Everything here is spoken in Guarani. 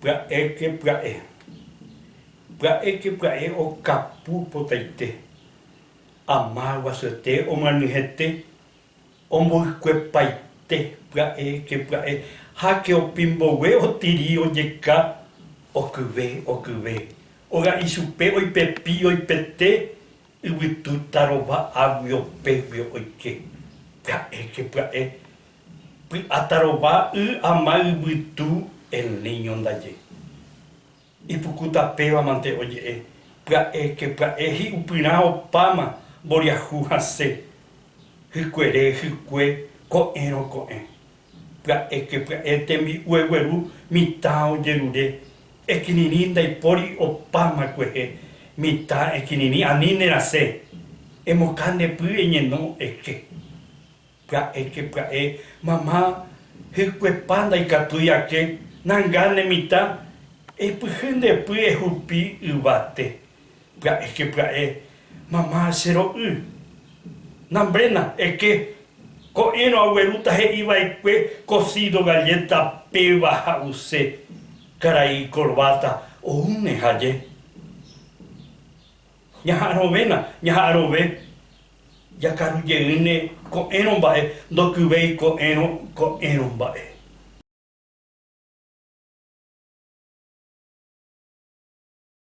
Pya'éke pya'e. Pya'éke pya'e okapu potaite. Ama guasuete omyenyhẽte omboykuepaite pya'éke pya'e ha keopi mbogue otiri ojeka okyve okyve óga ichupe oipepi oipete yvytu tarova águio pégui oike. Pya'éke pya'e Py'áta rova y ama yvytu el niño ndaje. Ipukuta péva mante oje'e, pya'e ke pya'e hi'upyrã opáma mboriahu hasẽ, hykuere hykue ko'ẽrõ ko'ẽ. Pya'e ke pya'e tembi'u egueru mitã ojerure, ekirirĩ ndaipóri opáma kuehe mitã ekirirĩ ani nerasẽ, emokandepy eñeno eke. Pya'éke, pya'e, mamá, hykuepa ndaikatúi ake, nanga ne mitã, epyhy nde py ehupi yvate. Pya'éke, pya'e, mamá, che ro'y. Nambréna, eke, ko'ẽrõ aguerúta he'i va'ekue cocido galleta péva ha'use karai corbata oúne jaje. Ñaha'arõvéna, ñaha'arõve. Jakaru jeýne ko'ẽrõ mba'e, ndokyvéi ko'ẽrõ ko'ẽrõ mba'e.